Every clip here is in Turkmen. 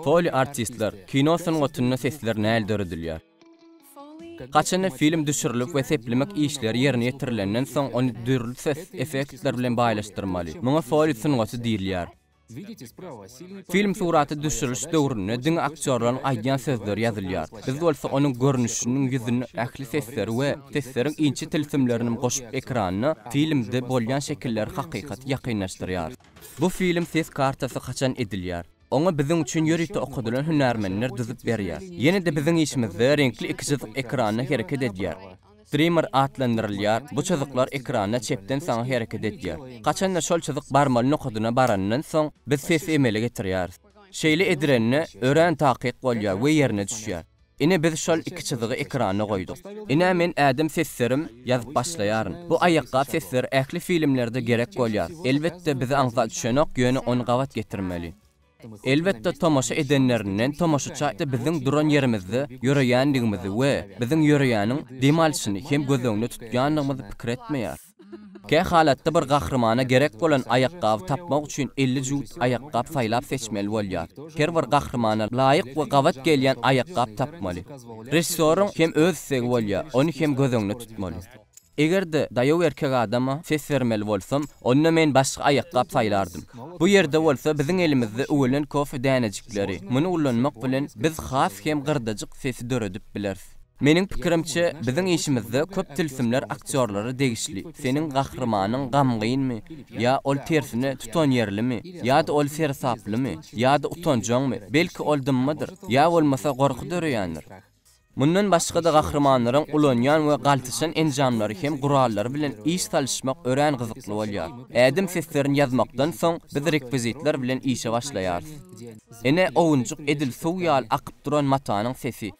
Foley artistler, kino sungatynda sesler näl döredilýär? Haçanda film düşürilip we seplemek işleri ýerine ýetirilenden soň ony dürli ses effektler bilen baýlaşdyrmaly. Muňa foley sungaty diýilýär. Film suraty düşüriliş döwründe diňe aktýorlaryň aýdýan sözleri ýazylýar. Biz bolsa onuň görnüşiniň ýüzüne ähli sesleri we sesleriň inçe tilsimlerinim goşup ekranda filmde bolýan şekilleri hakykaty ýakynlaşdyrýarys. Bu film ses kartasy haçan edilýär? Oňa biziň üçin ýörite okadylan hünärmenler düzüp berýär. Ýene-de biziň işimizde reňkli ikijyzyk ekranda hereket edýär. Streamer atlandyrylýar, bu çyzyklar ekranda çepden saňa hereket edýär. Haçanda şol çyzyk barmaly nokadyna barandan soň, biz sesi emele getirýäris. Şeýle edirende, örän takyk bolýar we ýerine düşýär. Ine biz şol iki çyzygy ekrana goýduk. Ine men ädim seslerim ýazyp başlaýaryn. Bu aýakgap sesleri ähli filmlerde gerek bolýar. Elbetde bize aňsat düşenok ýöne ony gabat getirmeli. Elbetde tomaşa edenlerinden tomaşaça biziň duran ýerimizde ýöreýändigimizi we biziň ýöreýäniň dem alşyny hem göz öňüne tutýandygymyzy pikir etmeýär. Kä halatda bir gahrymana gerek bolan aýakgaby tapmak üçin elli jübüt aýakgap saýlap seçmeli bolýar. Her bir gahrymana laýyk we gabat gelýän aýakgap tapmaly. Režissýoryň hem öz islegi bolýar, ony hem göz öňüne tutmaly. Eger-de daýaw erkek adama ses bermeli bolsam, onda men başga aýakgap saýlardym. Bu ýerde bolsa biziň elimizde üwelen kofe dänejikleri, muny ulanmak bilen biz has hem gyrdajyk sesi döredip bileris. Meniň pikirimçe, biziň işimizde köp tilsimler aktýorlara degişli. Seniň gahrymanyň gamgynmy? Ýa ol tersine tutanýerlimi? Ýa-da ol seresaplymy? Ýa-da utanjaňmy? Belki ol dymmydyr? Ýa bolmasa gorky döreýändir? Mundan başga-da gahrymanlaryň ulanýan we galtaşan enjamlary hem gurallary bilen iş salyşmak örän gyzykly bolýar. Ädim seslerini ýazmakdan soň, biz rekwizitler bilen işe başlaýarys. Ene, owunjyk edil suw ýaly akyp duran matanyň sesi.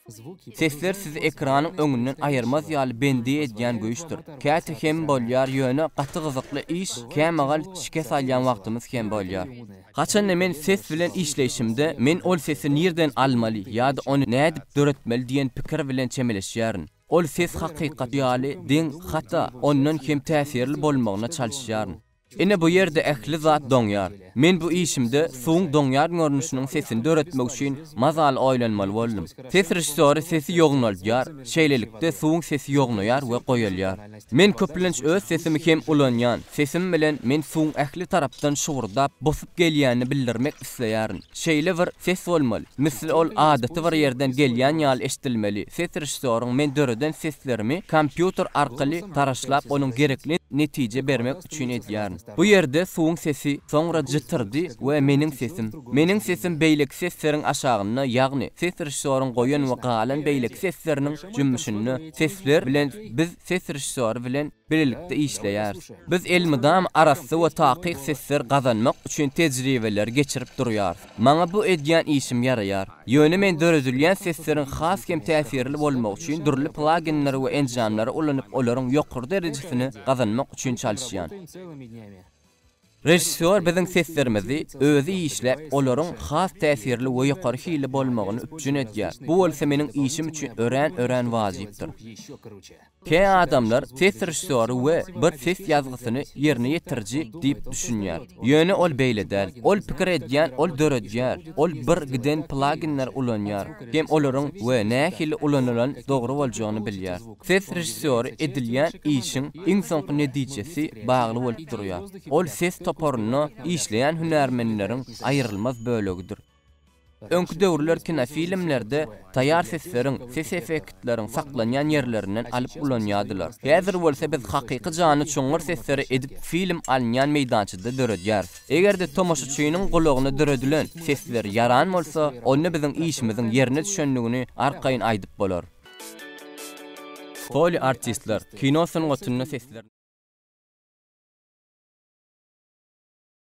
Sesler sizi ekranyň öňünden aýyrmaz ýaly bendi edýän güýçdür. Käte hem bolýar, ýöne gaty gyzykly iş, kämagal şikes alýan wagtymyz hem bolýar. Haçanda men ses bilen işleýşimde, men ol sesi nirden almaly ýa-da ony nädip döretmeli diýen pikir bilen çemeleşýärin. Ol ses hakykaty ýaly deň, hatda ondan hem täsirli bolmagyna çalyşýaryn. Ine bu ýerde ähli zat doňýar. Men bu işimde suwuň doňýan görnüşiniň sesini döretmek üçin mazaly oýlanmaly boldum. Ses režissýory sesi ýognaldýar, şeýlelikde suwuň sesi ýognaýar we goýalýar. Men köplenç öz sesimi hem ulanýan. Sesim bilen men suwuň ähli tarapdan şugurdap, bosup gelýänini bildirmek isleýärin. Şeýle bir ses bolmaly, misli ol adaty bir ýerden gelýän ýaly eşdilmeli. Ses režissýoryň men döreden seslerimi kompýuter arkaly taraşlap onuň gerekli netije bermek üçin edýärin. Bu ýerde suwuň sesi, soňra jytyrdy we meniň sesim. Meniň sesim beýleki sesleriň aşagynda, ýagny ses režissýoryň goýan we galan beýleki sesleriniň jümmüşinde. Sesler bilen biz ses režissýory bilen bilelikde işleýäris. Biz elmydama arassa we takyk sesler gazanmak üçin tejribeleri geçirip durýarys. Maňa bu edýän işim ýaraýar. Ýöne men döredilýän sesleriň has hem täsirli bolmagy üçin dürli plaginleri we enjamlary ulanyp olaryň ýokary derejesini gazanmak üçin çalyşýan. Režissýor biziň seslerimizi özi işläp, olaryň has täsirli we ýokary hilli bolmagyny üpjün edýär. Bu bolsa meniň işim üçin örän-örän wajypdyr. Kä adamlar ses režissýory we bir ses ýazgysyny ýerine ýetiriji diýip düşünýär. Ýöne ol beýle däl. Ol pikir edýän, ol döredýär. Ol bir giden plaginleri ulanýar hem olaryň we nähili ulanylan dogry boljagyny bilýär. Ses režissýory edilýän işiň iň soňky netijesi bagly bolup durýar. Ol ses toparynda işleýän hünärmenleriň aýrylmaz bölegidir. Öňki döwürler kinofilmlerde taýýar sesleriň, ses effektleriň saklanýan ýerlerinden alyp ulanýardylar. Häzir bolsa biz hakyky janly çuňňur sesleri edip film alynýan meýdançada döredýäris. Eger-de tomaşaçynyň gulagyna döredilen sesler ýaran bolsa, onda biziň işimiziň ýerine düşendigini arkaýyn aýdyp bolar. Foley artistler, kino sungatynda sesler.